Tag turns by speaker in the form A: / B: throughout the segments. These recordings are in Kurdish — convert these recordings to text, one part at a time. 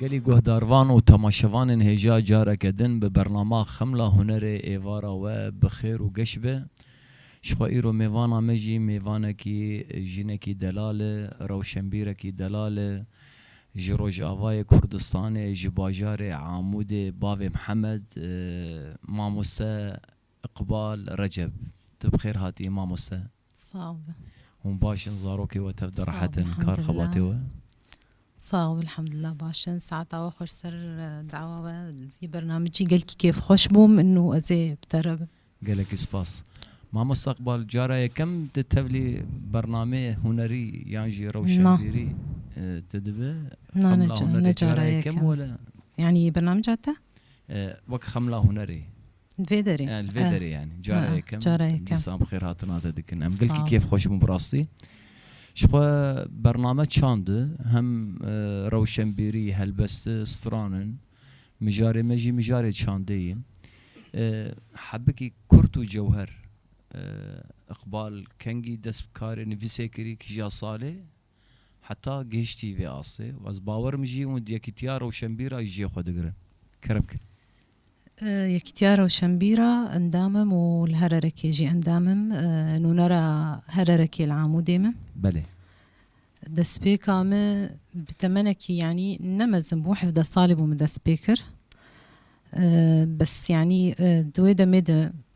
A: Gelê guhdarvan û temaşevanên hêja careke din bi bernama Xemla Hunerê êvara we bi xêr û geş be. Ji xwe îro mêvana me jî mêvanekî jinekî delal e, rewşenbîrekî delal e. Ji Rojavayê Kurdistanê, ji bajarê Amûdê bavê Mihemed, mamoste Iqbal Receb, Tu bi xêr hatî mamoste. Sağ ol.
B: Hûn baş
A: in, zarokê we tev di rehet in kar xebatê we? Sağ
B: ol, elhamdulillah baş in. Saeta we xweş ser dawa we vî bernamecî gelkî kêfxweş bûm in û ez ê bi te re bim. Gelekî spas.
A: Mamoste Iqbal cara yekem di tevlî bernameyê hunerî yan jî rewşenbîrî tu dibi? Na ne cara
B: yekem. Cara yekem wele?
A: Yanî bernameca
B: te? Wek
A: xemla hunerê. Li vê derê.
B: Li vê derê yanî
A: cara yekem dîsan bi xêr
B: hatina te
A: dikin. Em gelkî kêf xweş bûn bi rastî. Ji xwe bername çandi hem rewşenbîrî, helbesti, stranin. Mijarê me jî mijarê çandê ye. Hebikî kurt û cewher. Iqbal Kengî dest bi karê nivîsê kirî kija salê. heta gihiştî vê astê û ez bawer im jî hûn Yekîtiya Rewşenbîra ji cihê xwe digirin. Kerem kir.
B: Yekîtiya Rewşenbîra endam im û li Hererekê jî endam im. Nûnera Hererekê li Amûdê me. Belê. Destpêka me bi temenekî yanî ne mezin bû, hevdeh salî bû min dest pê kir. Bes yanî di wê demê de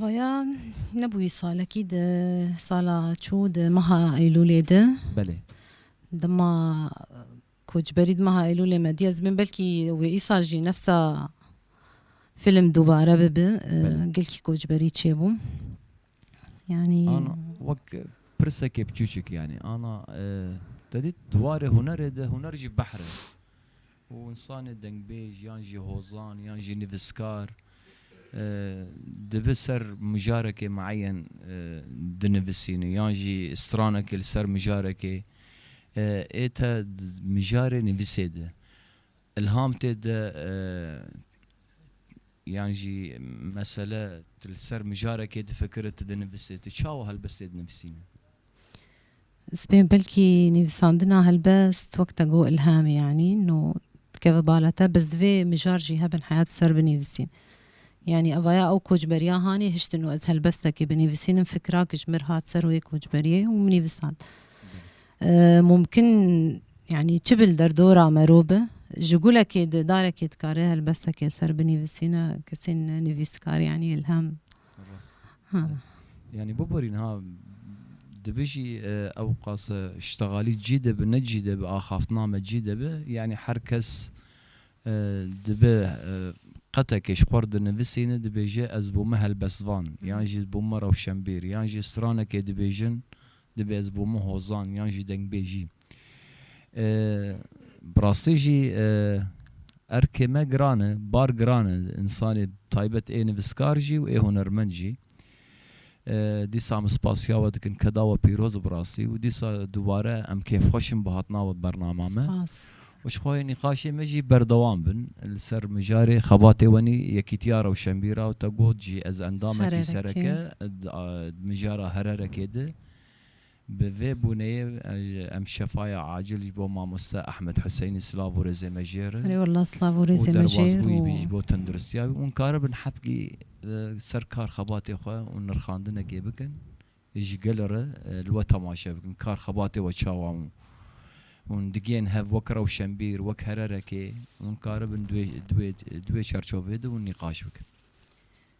A: Vaya
B: nebûyî salekî di sala çû di meha Eylûlê di. Belê.
A: Dema
B: koçberî di meha Eylûlê me dîya zimên belkî wê îsal jî nefsa film dubare bibi gelkî koçberî çêbû. Yanî
A: wek pirsekê piçûçik yanî ana te dît di warê hunerê de huner jî behr e. Û însanê dengbêj yan jî hozan yan jî nivîskar dibe ser mijarekê mieyen dinivisîne yan jî stranekê li ser mijarekê ê te di mijarê nivîsê de îlham tê de yan jî mesele tu li ser mijarekê difikire tu dinivisê tu çawa helbestê dinivîsîne.
B: Sibê belkî nivîsandina helbest wek te got îlham yanî no dikeve bala te biz divê mijar jî hebin heya di ser binivîsîn. Yanî evaya ew kocberiya hanê hiştin û ez helbestekê binivîsînim fikira ku ji mir hat ser wê kocberiyê û min nivîsand. Mumkin yanî çi bil derdora me rû bi ji gulekê di darekê dikare helbestekê li ser binivîsîne kesên nivîskar yanî îlham Rast.
A: Yanî biborî niha dibijî ewqas ştegalî cî de bi ne cî de bi axaftina me cî de bi yanî her kes dibe qetekê ji xwe dinivisîne dibêje ez bûme helbestvan yan jî bûme rewşenbîr yan jî stranekê dibêjin dibê ez bûme hozan yan jî dengbêjî. Bi rastî jî erkê me giran e, bar giran e, însanê bi taybet ê nivîskar jî û ê hunermend jî. Dîsa em spasiya we dikin ke da we pîroz bi rastî û dîsa dubare em kêfxweş in bi hatina we bi bernama me. Spas. Dixwayê nîqaşê me jî berdewam bin li ser mijarê xebatê wenî Yekîtiya Rewşenbîr a û te got jî ez endamekî sereke di mijara Hererekê di Bi vê bûneyê em şefaya acil ji bo mamoste Ahmed Huseyni silav û rêzê me jêrin û derbasbûyî
B: bî ji bo tenduristiya
A: wî û hûn karibin hebgî li ser kar xebatê xwe û nirxandinekê bikin ji gelê re li we temaşe bikin kar xebatê we çawa hûn hûn digihên hev wek rewşenbîr wek hererekê hûn karibin di wê di wê di wê çerçoveyê de hûn nîqaş bikin.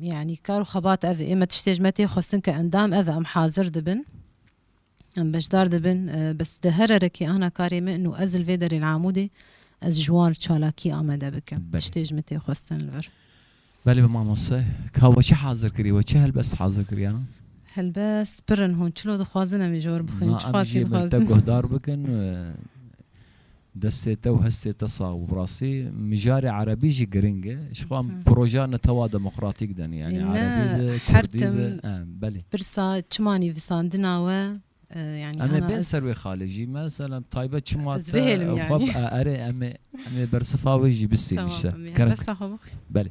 B: Yanî kar û xebat ev e. Me tiştê ji me tê xwestin ke endam ev e. Em hazir dibin. Em beşdar dibin. Bes di here re kê ana karê min û ez li vê derê li Amûdê ez ji wan çalakî amade bikim. Tiştê ji min tê xwestin li vir. Belê be
A: mamoste. Ka we çi hazir kirî? We çi helbest hazir kiriyan? Helbest
B: pir in hûn. Çilo dixwazin em ê ji we re bixwînin? Çi xwazî dixwazin? Em ê ji me te
A: guhdar bikin. Destê te û hestê te sax û bi rastî mijarê erebî jî giring e ji xwe em projeya netewa demokratîk de ne yanî erebî be kurdî be belê. Pirsa çima
B: nivîsandina we yanî hema ez. Em ê bên ser wê
A: xalê jî meselem taybet çima te xwe
B: erê
A: em ê bersifa wê jî bistînin îşte. Desta xwe
B: bixwîn. Belê.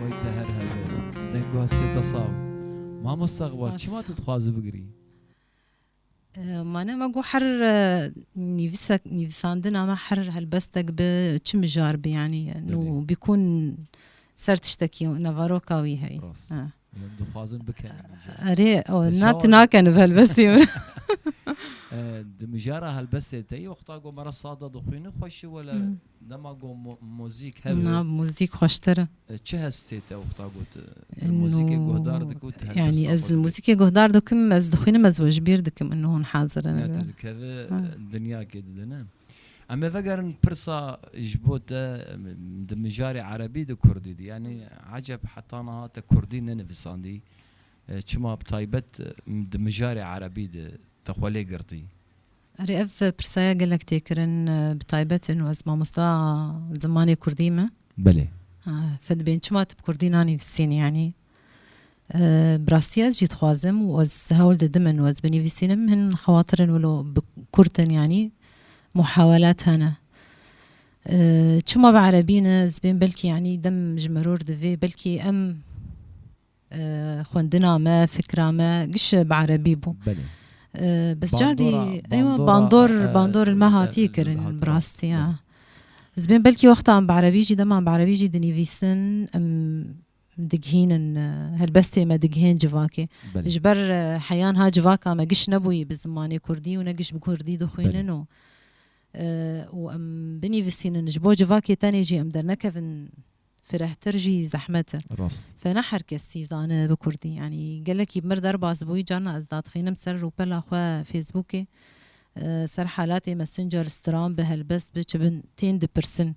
A: Way te her hebe. Dengbaş te te sax. Mamosta Xbar çima tu dixwazi bigirî?
B: Mane me got her nîvîsek nîvîsandina me her helbestek bi çi mijar bi yanî nû bîkûn ser tiştekî nevaroka wî heye. Dixwazin
A: bikenin îcar. Erê
B: na tu naken bi helbestê min. Di
A: mijara helbestê te yî wexta ku me re sada dixwînin xweş e wele dema ku muzîk hev e. Na muzîk xweştir
B: e. Çi hes tê
A: te wexta ku tu muzîkê guhdar dikî û tu helbesta xwe dikî? Yanî ez li muzîkê
B: guhdar dikim, ez dixwînim ez we ji bîr dikim û hûn hazir in. Tu dikevî
A: dinyakê di ne? Em ê vegerin pirsa ji bo te di mijarê erebî di kurdî di yanî eceb heta niha te kurdî nenivisandî çima bi taybet di mijarê erebî di te xwe lê girtî? Erê ev
B: pirsa ya gelek tê kirin bi taybet inu ez mamosta zimanê kurdî me. Belê.
A: Fidbin
B: çima tu bi kurdî nanîvisînî yanî. Bi rastî ez jî dixwazim û ez hewl didim in û ez binivîsînim hin xewatir in wilo bi kurt in yanî muhawelat hene. Çima bi erebî ne ez bên belkî yanî dem ji miror divê belkî em xwendina me, fikra me giş bi erebî bû.
A: Bes
B: cadî eywa bandor bandor li me hatîye kirin bi rastî ya. Ez bên belkî wexta em bi erebî jî dema em bi erebî jî dinivîsin em digihînin helbestê me digihên civakê. Ji ber heya niha civaka me giş nebûyî bi zimanê kurdî û ne giş bi kurdî dixwînin û û em binivîsînin ji bo civakê tenê jî em dernekevin firehtir jî zehmet e. Fe ne her kesî zane bi kurdî yanî gelekî bi mir derbas bûyî carna ez dadixînim ser rûpela xwe Fêsbûkê ser helatê Messenger, Stram bi helbest bi çi bin tên dipirsin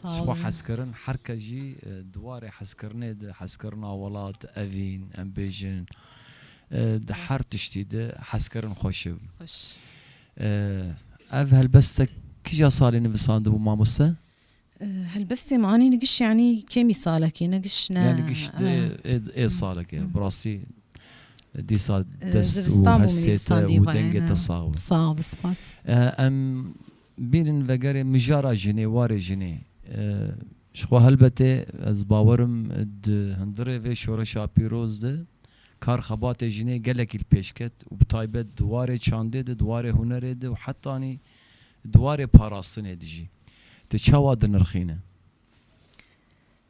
A: Spa hezkirin her kes jî di warê hezkirinê de, hezkirina welat, evîn, em bêjin di her tiştî de hezkirin xweş e. Ev helbest te kija salê nivisandibû mamoste? Helbestê
B: me anî nigiş yanî kêmî salekê nigiş ne. Ya nigiş
A: ê salekê bi rastî dîsa dest û hestê te û dengê te sax be. Sax be spas.
B: Em
A: Bînin vegerê mijara jinê, warê jinê. Jixwe helbetê ez bawer im di hundirê vê şoreşa pîroz de kar xebatê jinê gelekî li pêş ket û bi taybet di warê çandê de, di warê hunerê de û hetanî di warê parastinê de jî. Te çawa dinirxîne?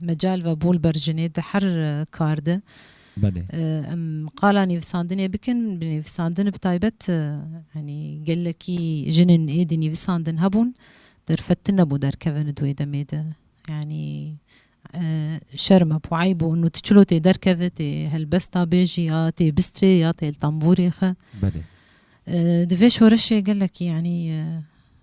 B: Mecal ve bol ber jinê di her kar de. Belê.
A: Em qala
B: nivîsandinê bikin, bi nivîsandin bi taybet yanî gelekî jinên êdî nivîsandin hebûn, derfet din nebû derkevin di wê demê de. Yanî şerm e bû, eyb bû û tu çilo tê derkevê, tê helbesta bêjî ya tê bistrê ya tê li tembûrê xwe. Belê.
A: Di vê
B: şoreşê gelekî yanî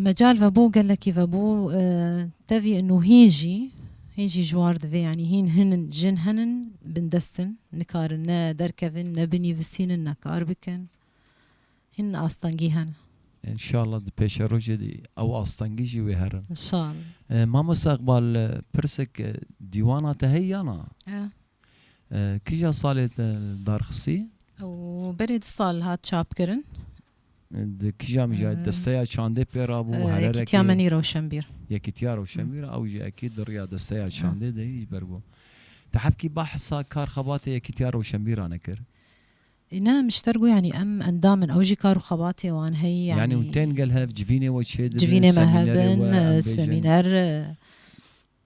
B: Mecal vebû gelekî vebû tevî û hîn jî hîn jî ji war divê yanî hîn hinin jin henin bindest in nikarin ne derkevin ne binivîsînin ne kar bikin hîn astengî hene. Înşallah
A: di pêşerojê de ew astengî jî wê herin.
B: Mamoste Iqbal
A: pirsek dîwana te heye ya na? Kîja salê te darxistî? Ew berê
B: du sal hat çapkirin. Di
A: kîja mijayê desteya çandê pê rabû? Hererekê? Yekîtiya Menî Rewşenbîr.
B: Yekîtiya Rewşenbîr
A: ew jî ekî di riya desteya çandê de ji ber bo. Te hebkî behsa kar xebatê Yekîtiya Rewşenbîr a nekir? Ne
B: Mişter got yanî em endam in ew jî kar û xebatê wan heye yanî. Yanî û tên gel hev
A: civînê we çê dibin? Civînê me hev bin
B: semîner.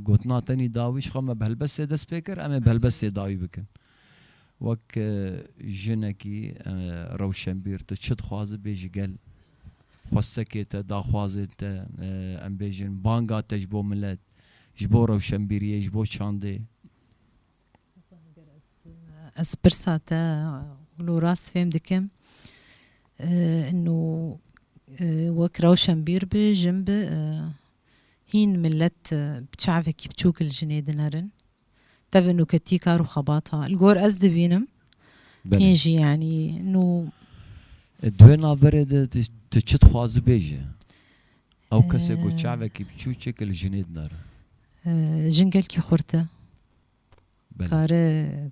A: Gotina tenî dawî ji xwe me bi helbestê dest pê kir, em ê bi helbestê dawî bikin. Wek jinekî rewşenbîr tu çi dixwazî bê ji gel xwestekê te, daxwazên te, em bêjin banga te ji bo milet, ji bo rewşenbîriyê, ji bo çandê? Ez
B: pirsa te wilo rast fêm dikim. Ino wek rewşenbîr bi, jin bi, Hîn milet bi çavekî biçûk li jinê dinerin. Tevî nûketî kar û xebata li gor ez dibînim. Hîn jî yanî nû. Di wê
A: naverê de tu çi dixwazibê ji ew kesê ku çavekî biçû çêke li jinê dinerin? Jin
B: gelkî xurt e. Kare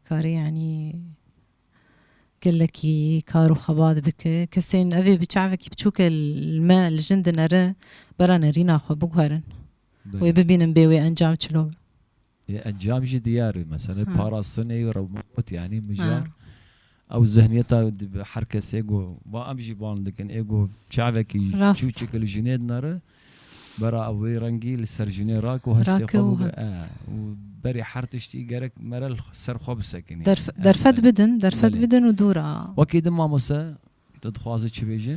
B: kare yanî gelekî kar û xebat bike. Kesên evê bi çavekî biçûke li me li jin dinere bera nerîna xwe biguherin. Wê bibînin bê wê encam çilo be. Encam
A: jî diyar e. Mesele parastinê rewmekot yanî mijar Ew zihniyeta dibe her kes ê ku ba em jî bang dikin ê ku çavekî çûçik li jinê dinere bera ew wê rengî li ser jinê rak û hestê xwe bûbe û berî her tiştî gerek mere li ser xwe bisekinî. Derfet bidin,
B: derfet bidin û dûr a. Wekî din mamose
A: tu dixwaze çi bêje?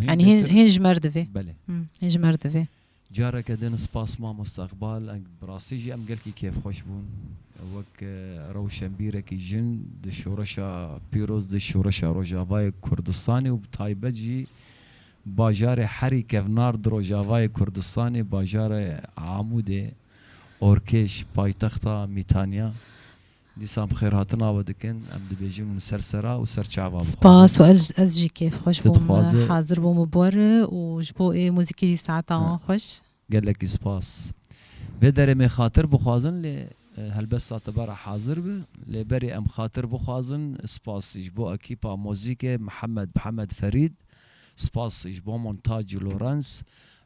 B: Hîn hîn ji mer divê. Belê. Hîn ji mer divê. Careke din
A: spas mamosta Iqbal bi rastî jî em gelkî kêfxweş bûn wek rewşenbîrekî jin di şoreşa pîroz di şoreşa Rojavayê Kurdistanê û bi taybet jî bajarê herî kevnar di Rojavayê Kurdistanê bajarê Amûdê orkêş paytexta Mîtanya Dîsa bi xêrhatina we dikin, em dibêjin hûn ser sera û ser çava Spas û ez
B: ez jî kêfxweş bûm hazir bûm bi we re û ji bo ê muzîkê jî saeta wan xweş. Gelekî spas.
A: Vê derê me xatir bixwazin lê helbet satebara hazir bi lê berê em xatir bixwazin spas ji bo ekîpa muzîkê Mihemed Mihemed Ferîd, spas ji bo Montac û Lorens,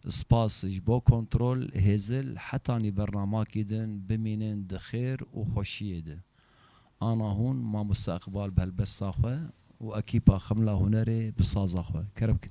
A: Spas ji bo kontrol, hêzil, hetanî bernamakî din, bimînin di xêr û xweşiyê de. Ana hûn Mamoste Iqbal bi helbesta xwe û ekîpa Ximla Hunerê bi saza xwe. Kere bike.